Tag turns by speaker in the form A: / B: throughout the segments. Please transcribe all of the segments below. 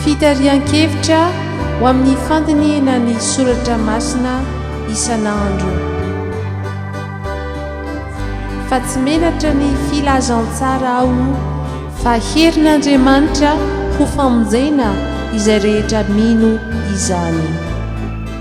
A: Fitarihan-kevitra ho amin'ny fandinihina ny soratra masina isan'andro. Fa tsy menatra ny filazantsara aho fa herin'Andriamanitra ho famonjena izay rehetra mino izany.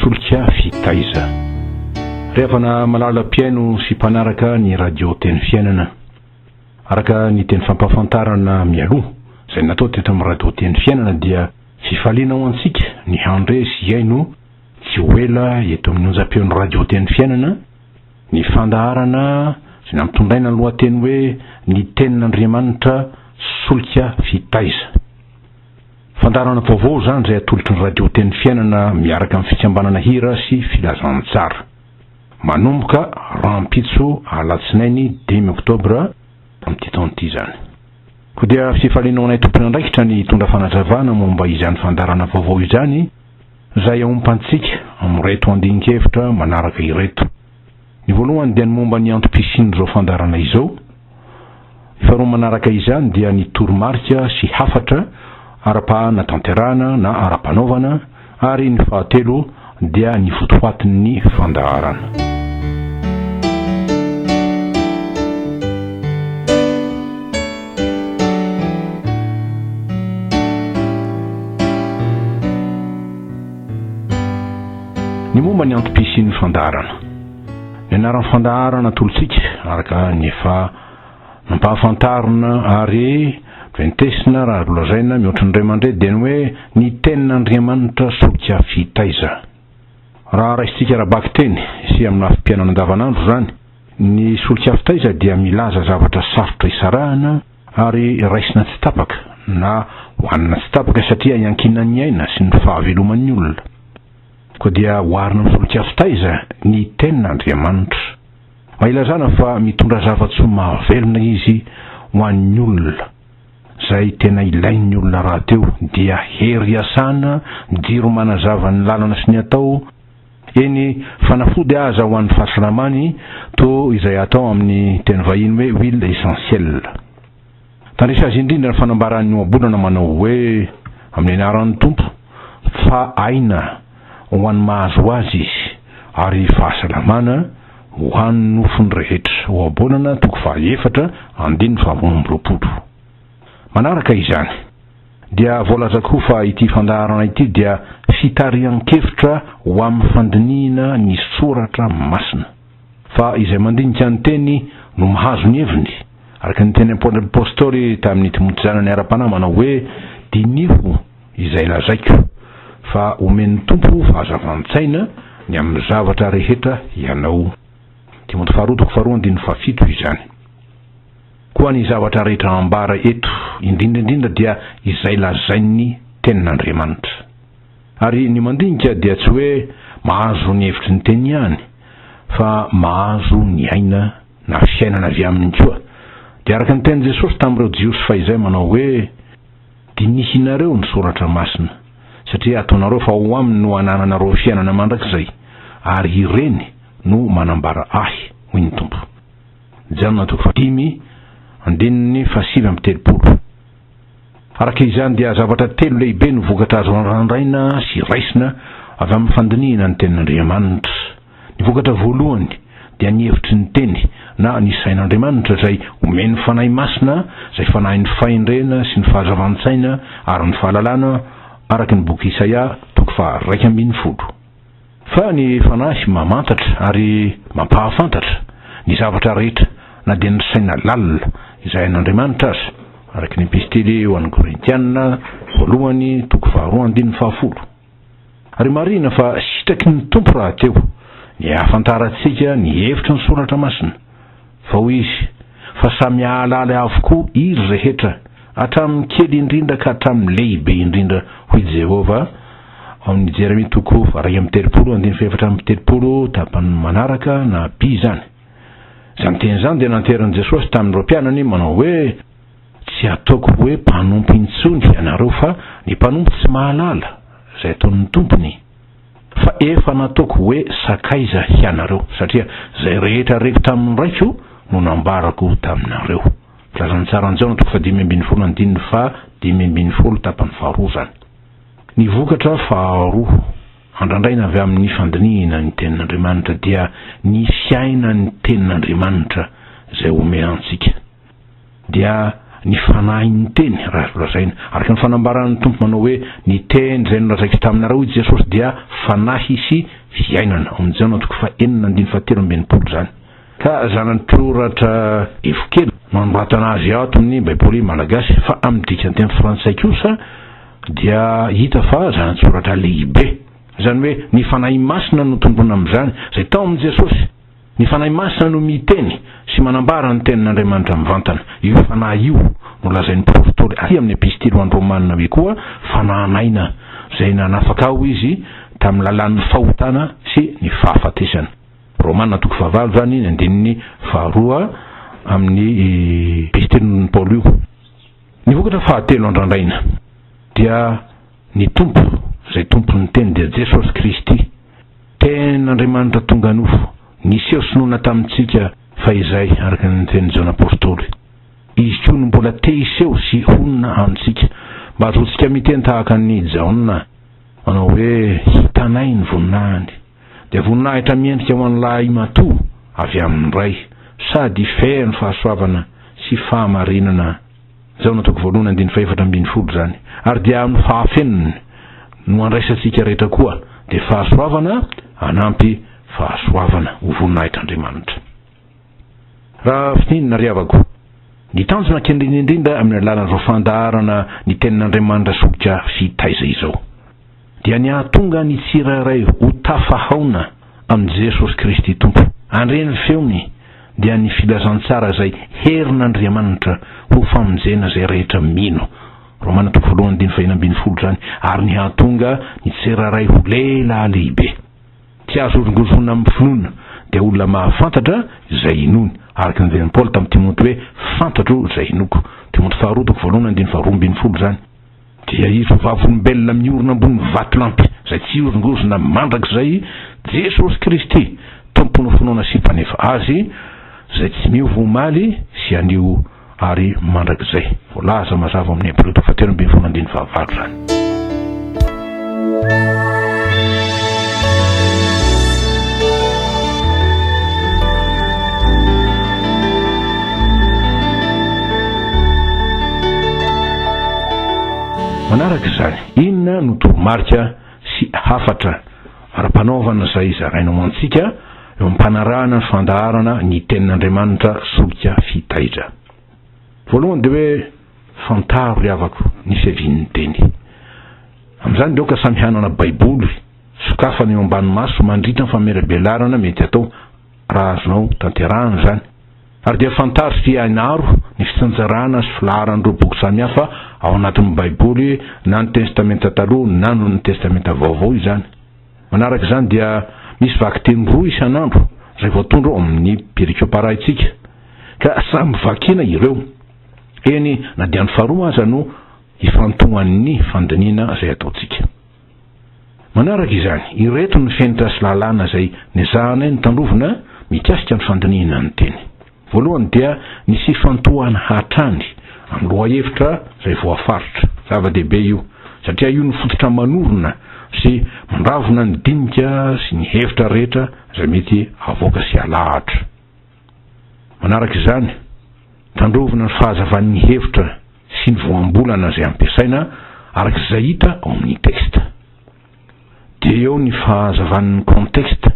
B: Solika fitaiza. Ry havana malala mpihaino sy mpanaraka ny Radio Teny Fiainana. Araka ny teny fampahafantarana mialoha izay natao teto amin'ny Radio Teny Fiainana dia fifaliana ho antsika ny handre sy hihaino tsy ho ela eto amin'ny onjam-peon'ny Radio Teny Fiainana ny fandaharana izay nampitondraina ny lohateny hoe Ny Tenin'Andriamanitra, Solika Fitaiza. Fandaharana vaovao izany izay atolotry ny Radio Teny Fiainana miaraka amin'ny fikambanana Hira sy Filazantsara. Manomboka rahampitso alatsinainy dimy oktobra amin'ity taona ity izany. Koa dia fifaliana ho anay tompon'andraikitra ny hitondra fanazavana momba izany fandaharana vaovao izany izay aompantsika amin'ireto andinkevitra manaraka ireto. Ny voalohany dia ny momba ny antom-pisian'izao fandaharana izao. Ny faharoa manaraka izany dia ny toromarika sy hafatra ara-panatanterahana na ara-panaovana ary ny fahatelo dia ny votoatin'ny fandaharana. Ny momba ny antom-pisian'ny fandaharana. Ny anaran'ny fandaharana atolotsika, araka ny efa nampahafantarina ary ventesina raha azo lazaina mihoatra ny ray aman-dreny, dia ny hoe Ny Tenin'Andriamanitra Solika Fitaiza. Raha raisintsika ara-bakiteny sy amin'ny lafim-piainana andavanandro izany, ny solika fitaiza dia milaza zavatra sarotra isarahana, ary raisina tsy tapaka na hohanina tsy tapaka satria iankinan'ny aina sy ny fahaveloman'ny olona. Koa dia oharina amin'ny solikazo taiza ny Tenin'Andriamanitra. Mba ilazana fa mitondra zava-tsoa mahavelona Izy ho an'ny olona. Izay tena ilain'ny olona rahateo dia hery iasana, jiro manazava ny lalana sy ny atao, Eny, fanafody aza ho an'ny fahasalamany toa izay atao amin'ny teny vahiny hoe huile essentielle. Tandresa azy indrindra ny fanambaran'ny Ohabolana manao hoe, Amin'ny anaran'ny Tompo, fa aina ho an'ny mahazo azy izy, ary fahasalamana ho an'ny nofony rehetra. Ohabolana, toko faha efatra, andininy faha roa amby roapolo. Manaraka izany. dia voalazako koa fa ity fandaharana ity dia fitarihan-kevitra ho amin'ny fandinihina ny soratra masina. Fa izay mandinika ny teny no mahazo ny heviny, araka ny teny apostoly tamin'ny Timoty zanany ara-panahy manao hoe, Diniho izay lazaiko, fa omen'ny Tompo fahazavan-tsaina ny amin'ny zavatra rehetra ianao. Timoty faharoa toko faharoa andininy fahafito izany. Koa ny zavatra rehetra ambara eto, indrindra indrindra dia izay lazain'ny Tenin'Andriamanitra. Ary ny mandinika dia tsy hoe mahazo ny hevitry ny Teny ihany, fa mahazo ny aina na fiainana avy aminy koa. Dia araka ny tenin'i Jesosy tamin'ireo Jiosy fahizay manao hoe, Dinihinareo ny Soratra Masina, satria ataonareo fa ao aminy no anananareo fiainana mandrakizay, ary ireny no manambara Ahy, hoy ny Tompo. Jan toko fahadimy, andininy fahasivy amby telopolo. Araka izany dia zavatra telo lehibe no vokatra azo randrandraina sy raisina avy amin'ny fandinihana ny Tenin'Andriamanitra. Ny vokatra voalohany dia ny hevitry ny Teny na ny sain'Andriamanitra izay omen'ny Fanahy Masina, izay fanahin'ny fahendrena sy ny fahazavan-tsaina ary ny fahalalana, araka ny boky Isaia toko faha iraika ambin'ny folo. Fa ny Fanahy mamantatra ary mampahafantatra ny zavatra rehetra na dia ny saina lalina izay an'Andriamanitra aza, araka ny epistily ho an'ny Korintiana voalohany toko faharoa andininy fahafolo. Ary marihina fa sitraky ny Tompo rahateo ny ahafantarantsika ny hevitry ny Soratra Masina. Fa hoy izy, Fa samy hahalala avokoa iry rehetra, hatramin'ny kely indrindra ka hatramin'ny lehibe indrindra, hoy Jehovah, ao amin'ny Jeremia toko faharay amby telopolo, andininy fahefatra amby telopolo, tapany manaraka na by izany. Izany teny izany dia nanterin'i Jesosy tamin'ireo mpianany, manao hoe, Tsy hataoko hoe mpanompo intsony ianareo, fa ny mpanompo tsy mahalala izay ataon'ny tompony. Fa efa nataoko hoe sakaiza hianareo, satria izay rehetra reko tamin'ny Raiko no nambarako taminareo. Filazantsaran'i Jaona toko fahadimy ambin'ny folo andininy faha dimy ambin'ny folo tapany faharoa izany. Ny vokatra faharoa andrandraina avy amin'ny fandinihina ny Tenin'Andriamanitra dia ny fiainan'ny Tenin'Andriamanitra izay omea antsika. dia ny fanahin'ny teny raha azo lazaina. Araka ny fanambaran'ny Tompo manao hoe ny teny izay nolazaiko taminareo hoy Jesosy dia fanahy sy fiainana. Ao amin'ny Jaona toko fahenina andininy fahatelo amby enimpolo izany. Ka zana-tsoratra Evokely no anoratana azy ato amin'ny Baiboly malagasy fa amin'ny dikan-teny frantsay kosa dia hita fa zana-tsoratra lehibe. Izany hoe ny Fanahy Masina no tombony amin'izany izay tao amin'i Jesosy. Ny Fanahy Masina no miteny sy manambara ny Tenin'Andriamanitra mivantana. Io Fanahy io no lazain'ny Apostoly aty amin'ny Epistily ho an'ny Romana hoe koa Fanahin'aina, izay nanafaka aho izy tamin'ny lalàn'ny fahotana sy ny fahafatesana. Romana toko fahavalo izany, ny andininy faharoa amin'ny Epistilin'i Paoly io. Ny vokatra fahatelo andrandraina dia ny Tompo, izay Tompon'ny Teny dia Jesosy Kristy. Ten Andriamanitra tonga nofo, niseho sy nona tamintsika fahizay araka ny tenin'i Jaona Apostoly. Izy koa no mbola te hiseho sy honina amintsika, mba hahazoantsika miteny tahaka an'i Jaona, manao hoe, Hitanay ny voninahiny. Dia voninahitra miendrika ho an'ny lahimatoa avy amin'ny Ray, sady feno fahasoavana sy fahamarinana. Jaona toko voalohany andininy fahefatra ambin'ny folo izany. Ary dia amin'ny fahafenony no andraisantsika rehetra koa dia fahasoavana anampy fahasoavana ho voninahitr'Andriamanitra. Raha fintinina ry havako, ny tanjona kendreny indrindra amin'ny alalan'izao fandaharana ny tenin'Andriamanitra solika sy taiza izao. dia ny hahatonga ny tsirairay ho tafahaona amin'i Jesosy Kristy Tompo. Handre ny feony dia ny filazantsara izay herin'Andriamanitra ho famonjena izay rehetra mino, Romana toko voalohany andininy faheno ambin'ny folo izany, ary ny hahatonga ny tsirairay ho lehilahy lehibe. Tsy azo horongozohina amin'ny finoana, dia olona mahafantatra izay inoany, araka ny lazain'i Paoly tamin'i Timoty hoe, Fantatro izay inoako, Timoty faharoa toko voalohany andininy faharoa ambin'ny folo izany. Dia ireo vavolombelona miorina ambony vatolampy izay tsy hihorongorona mandrakizay, Jesosy Kristy, Tompon'ny finoana sy Mpanefa azy, izay tsy miova omaly sy anio ary mandrakizay. Voalaza mazava ao amin'ny Hebreo toko fahatelo ambin'ny folo andininy fahavalo izany. Manaraka izany, inona no toromarika sy hafatra ara-panaovana izay zarainao antsika eo amin'ny mpanarahana ny fandaharana ny Tenin'Andriamanitra solika fitaidra? Voalohany dia hoe, Fantaro ry havako ny fiavian'ny Teny. Amin'izany dia aoka samy hanana Baiboly sokafana eo ambany maso mandritra ny famelabelarana mety hatao, raha azonao tanterahana izany. Ary dia fantaro sy hainaro ny fitsinjarana sy filaharan'ireo boky samihafa ao anatin'ny Baiboly, na ny Testamenta Taloha na ny Testamenta Vaovao izany. Manaraka izany dia misy vakiteny roa isan'andro izay voatondro ao amin'ny perikoparaintsika, ka samy vakina ireo. Eny, na dia ny faharoa aza no ifantohan'ny fandinihina izay ataontsika. Manaraka izany, ireto ny fenitra sy lalàna izay nezahanay nitandrovina mikasika ny fandinihina ny teny. Voalohany dia nisy ifantohana hatrany amin'ny lohahevitra izay voafaritra. Zava-dehibe io, satria io no fototra manorina sy mandravona ny dinika sy ny hevitra rehetra izay mety havoaka sy halahatra. Manaraka izany, tandrovina ny fahazavan'ny hevitra sy ny voambolana izay ampiasaina araka izay hita ao amin'ny texte. Dia eo ny fahazavan'ny contexte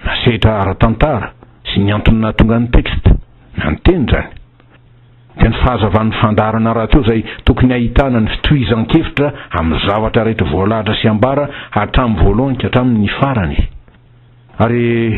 B: na sehatra ara-tantara sy ny antony nahatonga ny texte na ny teny izany. Dia ny fahazavan'ny fandaharana rahateo izay tokony hahitana ny fitohizan-kevitra amin'ny zavatra rehetra voalahatra sy ambara hatramin'ny voalohany ka hatramin'ny farany. Ary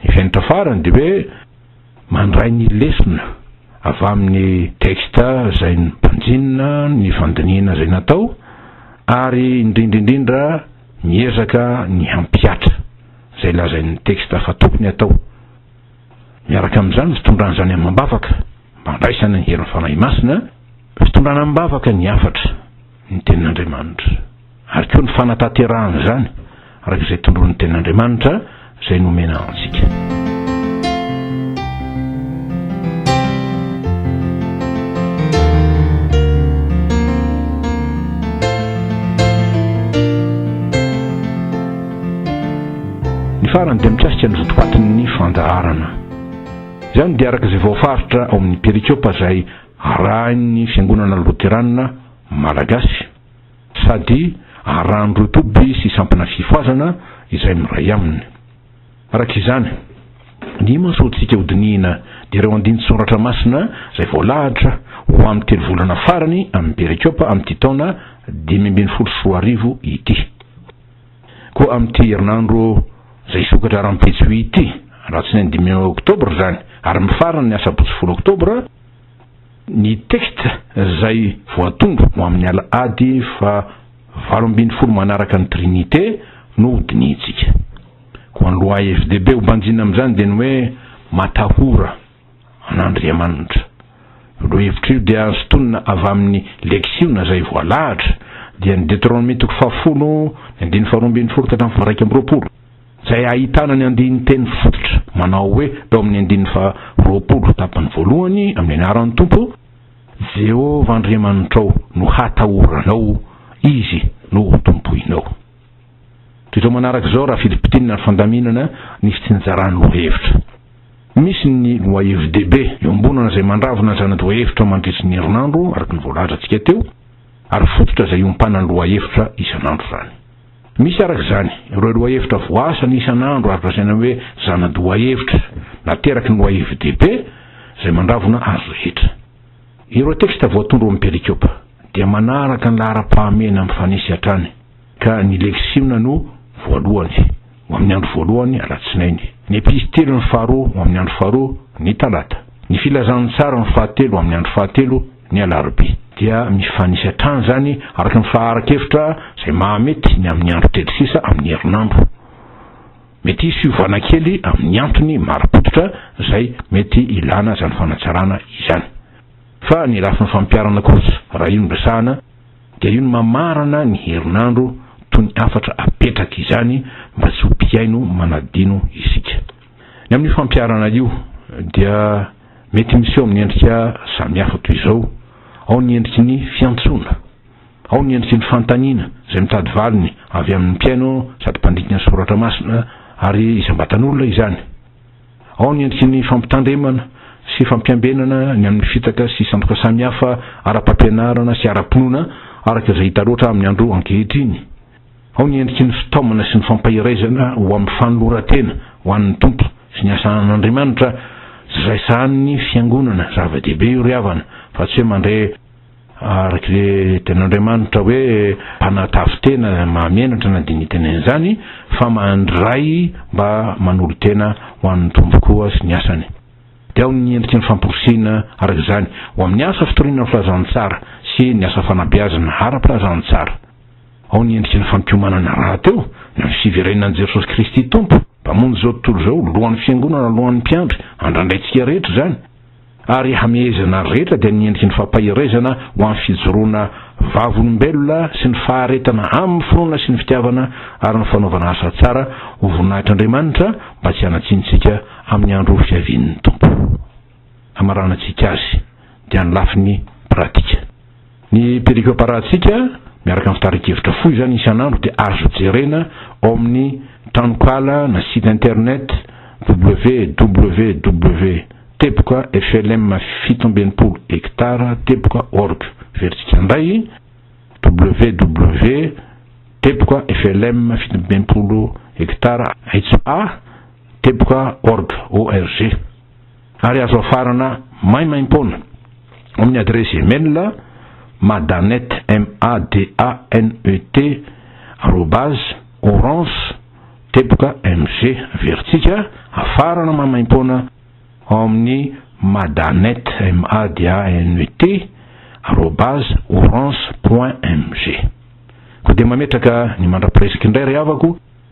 B: ny fenitra farany dia hoe mandray ny lesona avy amin'ny texte izay nobanjinina, ny fandinihina izay natao ary indrindra indrindra miezaka ny hampihatra izay lazain'ny texte fa tokony hatao. Miaraka amin'izany ny fitondrana izany amam-bavaka mba handraisana ny herin'ny Fanahy Masina, fitondrana amam-bavaka ny hafatra, ny Tenin'Andriamanitra. Ary koa ny fanatanterahana izany araka izay tondroin'ny Tenin'Andriamanitra izay nomena antsika. Ny farany dia mikasika ny votoatin'ny fandaharana. Izany dia araka izay voafaritra ao amin'ny perikôpa izay arahin'ny Fiangonana Loteranina Malagasy. sady arahan'ireo toby sy sampana fifohazana izay miray aminy. Araka izany, ny imasoantsika hodinihina dia ireo andinin-tsoratra masina izay voalahatra ho amin'ny telo volana farany amin'ny Perikiôpa amin'ity taona dimy ambin'ny folo sy roa arivo ity. Koa amin'ity herinandro izay hisokatra rahampitso ity, alatsinainy dimy Oktobra izany, ary mifarana ny asabotsy folo Oktobra, ny texte izay voatondro ho amin'ny al ady fa valo ambin'ny folo manaraka ny Trinite no ho dinihintsika. Koa ny loha FDB ho banjina amin'izany dia ny hoe matahora an'Andriamanitra. Io loha hevitra io dia azo tonina avy amin'ny leksiona izay voalahatra, dia ny Deteronomia toko fahafolo, ny andininy faharoa ambin'ny folo ka hatramin'ny faharaika amby roapolo. izay ahitana ny andinin-teny fototra manao hoe tao amin'ny andininy faharoapolo tapany voalohany, Amin'ny anaran'ny Tompo, Jehovah Andriamanitrao, no hatahoranao, izy no ho tompoinao. Toy izao manaraka izao raha filipitinina ny fandaminana ny fitsinjaran'ny lohahevitra. Misy ny lohahevi-dehibe iombonana izay mandravona ny zana-dohahevitra mandritry ny herinandro, araka ny voalazantsika teo, ary fototra izay iompanan'ny lohahevitra isan'andro izany. Misy araka izany ireo lohahevitra voasana isan'andro ary lazaina hoe zana-dohahevitra nateraky ny lohahevi-dehibe izay mandravona azy rehetra. Ireo teksta voatondro amin'ny perikopa dia manaraka ny laharam-pahamehana mifanesy hatrany, ka ny leksiona no voalohany, ho amin'ny andro voalohany, alatsinainy, ny epistiliny faharoa, ho amin'ny andro faharoa, ny talata, ny filazantsara ny fahatelo, ho amin'ny andro fahatelo, ny alarobia. Dia mifanisy hatrany izany araka ny faharan-kevitra izay mahamety ny amin'ny andro kely sisa amin'ny herinandro. Mety hisy fiovana kely amin'ny antony marim-pototra izay mety hilana izany fanatsarana izany. Fa ny lafiny fampiharana kosa, raha io no resahana, dia io no mamarana ny herinandro toy ny hafatra apetraka izany mba tsy ho mpihaino manadino isika. Ny amin'io fampiharana io dia mety miseho amin'ny endrika samihafa toy izao, ao ny endriky ny fiantsoana, ao ny endriky ny fanontaniana izay mitady valiny avy amin'ny mpihaino sady mpandika ny soratra masina ary isam-batan'olona izany, ao ny endriky ny fampitandremana sy fampiambenana ny amin'ny fitaka sy sandoka samihafa ara-pampianarana sy ara-pinoana araka izay hita loatra amin'ny andro ankehitriny. Ao ny endriky ny fitaomana sy ny fampahiraizana ho amin'ny fanoloran-tena ho an'ny Tompo sy ny asa an'Andriamanitra, tsy izay sahanin'ny Fiangonana, zava-dehibe io ry havana, fa tsy hoe mandray araka ilay Tenin'Andriamanitra hoe mpanatavy tena mahamenatra na dia ny tenenin'izany, fa mandray mba manolo-tena ho an'ny Tompo koa sy ny asany. Dia ao ny endriky ny famporisihina araka izany ho amin'ny asa fitoriana ny filazantsara sy ny asa fanabeazana ara-pilazantsara. Ao ny endriky ny fampiomanana rahateo, na ny fiverenan'i Jesosy Kristy Tompo, Mpamonjy izao tontolo izao, Lohan'ny Fiangonana, Lohan'ny mpiandry, andrandraintsika rehetra izany, ary hamehezana ny rehetra dia ny endriky ny fampaherezana ho amin'ny fijoroana vavolombelona sy ny faharetana amin'ny finoana sy ny fitiavana ary ny fanaovana asa tsara ho voninahitr'Andriamanitra mba tsy hanatsiantsika amin'ny andro fiavian'ny Tompo. hamaranantsika azy dia ny lafiny pratika. Ny perikopa rahantsika miaraka amin'ny fitarian-kevitra fohy izany isan'andro dia azo jerena ao amin'ny tranonkala na site internet www teboka flm fito amby enimpolo hectare teboka org. Verintsika indray www teboka flm fito amby enimpolo hectare aitso a teboka org. ary azo afarana maimaim-poana amin'ny adiresy email madanet, m a d a n e t, arobase, orange, teboka, m g. Averintsika afarana maimaim-poana ao amin'ny madanet, m a d a n e t, arobase, orange, point, m g. Koa dia mametraka ny mandra-piresaka indray ry havako.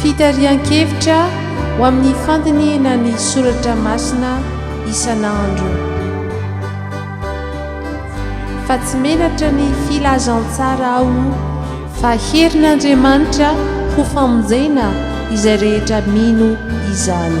A: Fitarihan-kevitra ho amin'ny fandinihana ny soratra masina isan'andro. Fa tsy menatra ny filazantsara aho fa herin'Andriamanitra ho famonjena izay rehetra mino izany.